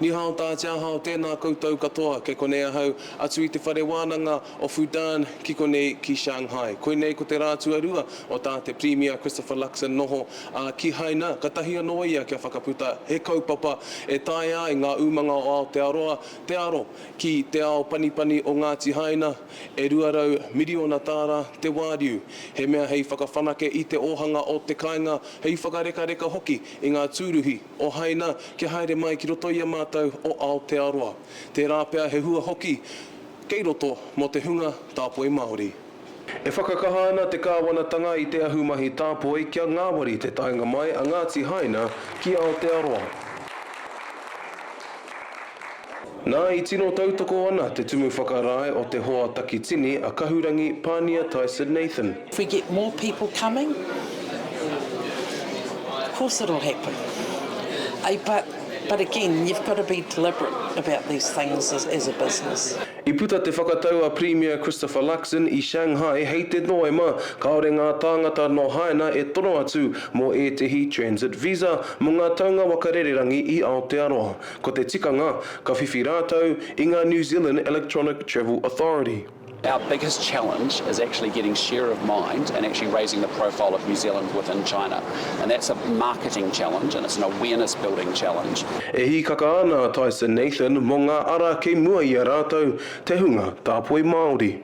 Ni hao ta tia hao tena koutou katoa kei konei ahau atu i te whare wananga o Fudan ki konei ki Shanghai. Koinei ko te ra tuarua o ta te Premier Christopher Luxon noho a Kihaina katahi ano ia kia whakaputa he kaupapa e taea ai nga umanga o Aotearoa te aro ki te ao panipani o Ngati Haina e 200 miriona tara te wariu he mea hei whakawhanake i te ohanga o te kainga hei whakarekareka hoki i nga turuhi o Haina kia haere mai ki roto i a mātou o Aotearoa, tērā pea he hua hoki kei roto mō te hunga tāpoi Māori. E whakakaha ana te kāwanatanga i te ahumahi tāpoi kia ngāwari te taenga mai a Ngāti Haina ki Aotearoa. Nā, i tino tautoko ana te Tumu Whakarae o te Hoa Takitini a Kahurangi Pānia Tyson Nathan. If we get more people coming, of course it'll happen. But, but again, you've got to be deliberate about these things as, as a business. I puta te whakatau a Premier Christopher Luxon i Shanghai hei te Noema, kāore ngā tāngata nō Haina e tono atu mō ētehi Transit Visa mō ngā taunga waka rererangi i Aotearoa. Ko te tikanga, ka whiwhi rātou i ngā New Zealand Electronic Travel Authority. Our biggest challenge is actually getting share of mind and actually raising the profile of New Zealand within China. And that's a marketing challenge and it's an awareness building challenge. E hīkaka ana a Tyson Nathan mō ngā ara kei mua i a rātou, te hunga tāpoi Māori.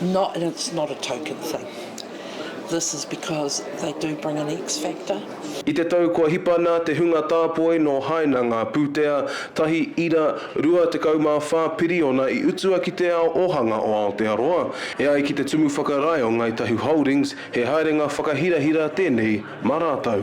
No, and it's not a token thing. This is because they do bring an X factor. I te tau kua hipa nā te hunga tāpoi nō Haina ngā pūtea, tahi ira, 24 piriona i utua ki te ao ōhanga o Aotearoa. E ai ki te Tumu Whakarae o Ngāi Tahu Holdings, he haerenga whakahirahira tēnei mā rātou.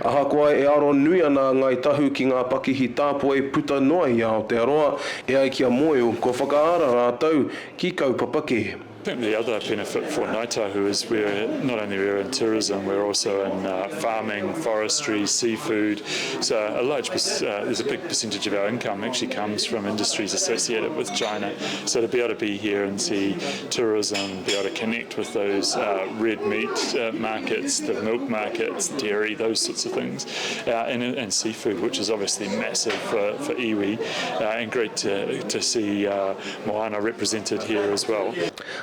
Ahakoa e aro nui ana a Ngāi Tahu ki ngā pakihi tāpoi puta noa i Aotearoa e ai ki a Moeu, kua whakaara rātou ki kaupapa kē. I think the other benefit for Ngai Tahu is we're not only we're in tourism we're also in farming, forestry, seafood so a large there's a big percentage of our income actually comes from industries associated with China so to be able to be here and see tourism, be able to connect with those red meat markets, the milk markets, dairy, those sorts of things, and seafood, which is obviously massive for iwi, and great to see Moana represented here as well.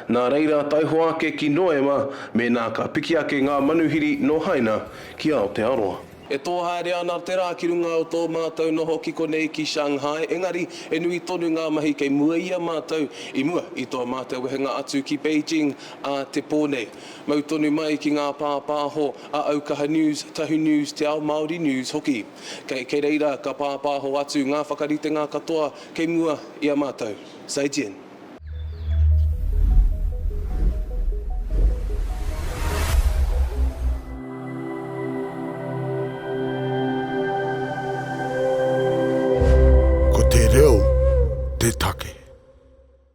Nā reira, taihoa ake ki Noema mēnā ka piki ake ngā manuhiri nō Haina ki Aotearoa. E tō haere ana te rā ki runga o tō mātou noho ki konei ki Shanghai, engari he nui tonu ngā mahi kei mua i a mātou i mua i tō mātou wehenga atu ki Beijing ā te pō nei. Mau tonu mai ki ngā pāpāho a Aukaha News, Tahu News, Te Ao Māori News hoki. Kei, kei reira ka pāpāho atu ngā whakaritenga katoa kei mua i a mātou. Zaijian. Ko te reo te take.